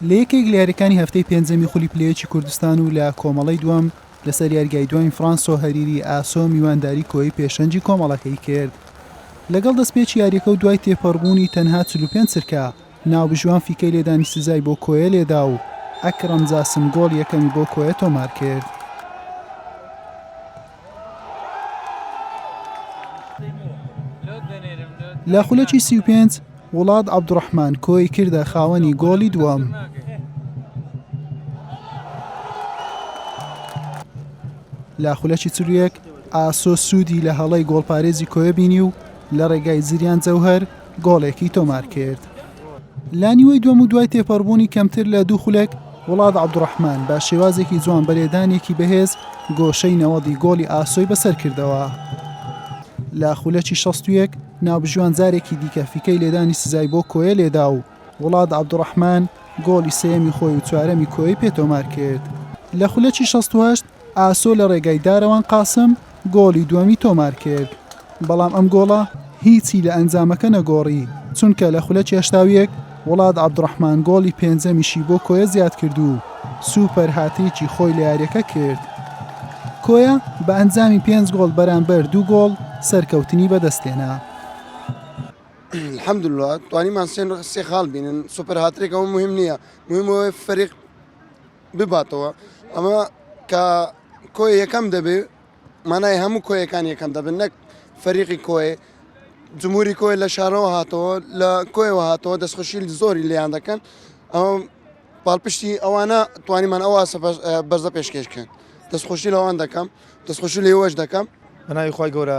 لە یەکێک لە یاریەکانی هەفتەی پێنجەمی خولی پلەیەکی کوردستان و لە کۆمەڵەی دووەم لەسەر یاریگای دواین فرانسۆ هەریری ئاسۆ میوانداری کۆی پێشەنگی کۆمەڵەکەی کرد لەگەڵ دەستپێکی یاریەکە و دوای تێپەڕبوونی تەنها چل و پێنج چرکە ناوبژیوان فیکەی لێدانی سزای بۆ کۆیە لێدا و ئەکرەم جاسم گۆڵی یەکەمی بۆ کۆیە تۆمارکرد. لە خولەکی سی و پێنج وڵات عەبدوڕەحمان کۆی کردە خاوەنی گۆڵی دووەم. لە خولەکی چلویەک ئاسۆ سوودی لە هەڵەی گۆڵپارێزی کۆیە بینی و لە ڕێگای زریان جەوهر گۆڵێکی تۆمارکرد لە نیوەی دووەم و دوای تێپەڕبوونی کەمتر لە دوو خولەک وڵات عەبدوڕەحمان بە شێوازێکی جوان بەلێدانێکی بەهێز گۆشەی نەوەدی گۆڵی ئاسۆی بەسەر کردەوە لە خولەکی 61 ناوبژیوان جارێکی دیکە فیکەی لێدانی سزای بۆ کۆیە لێدا و وڵات عەبدوڕەحمان گۆڵی سێیەمی خۆی و چوارەمی کۆیەی پێ تۆمار کرد لە خولەکی 68 ئاسۆ لە ڕێگای دارەوان قاسم گۆڵی دووەمی تۆمارکرد، بەڵام ئەم گۆڵە هیچی لە ئەنجامەکە نەگۆڕی، چونکە لە خولە چێشتاویەک وڵاد عەبدوڕەحمان گۆڵی پێنجەمیشی بۆ کۆیە زیادکرد و سوپەر هاتریکی خۆی لە یاریەکە کرد. کۆیە بە ئەنجامی پێنج گۆڵ بەرامبەر دوو گۆڵ سەرکەوتنی بەدەستهێنا. الحمدللە توانیمان سێ خاڵ بینن سوپەر هاتریک ئەوە مهم نییە مهم ئەوەیە فەریق بباتەوە ئەمە کە کۆی یەکەم دەبێ مانای هەموو کۆیەکان یەکەم دەبن نەک فەریقی کۆی جمهوری کۆی لە شارەوە هاتەوە لە کۆیەوە هاتەوە دەستخۆشیل زۆری لیان دەکەن ئەوم پاڵپشتی ئەوانە توانیمان ئەوە بەرزە پێشکێشکەن دەستخۆشی لەوان دەکەم دەستخۆشی لێوەش دەکەم بەناوی خی گەورە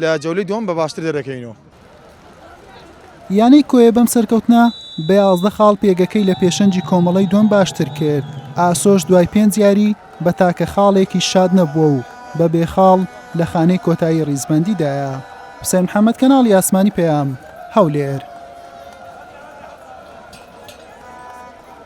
لە جەولەی دووەم بە باشتر دەرەکەوینەوە. یانەی کۆیە بەم سەرکەوتنە بە یازدە خاڵ پێگەکەی لە پێشەنگی کۆمەڵەی دووەم باشتر کرد، ئاسۆش دوای پێنج یاری بە تاکە خاڵێکیش شاد نەبووە و بە بێ خاڵ لە خانەی کۆتایی ریزبەندیدایە. حوسێن محەمەد، کەناڵی ئاسمانی پەیام، هەولێر.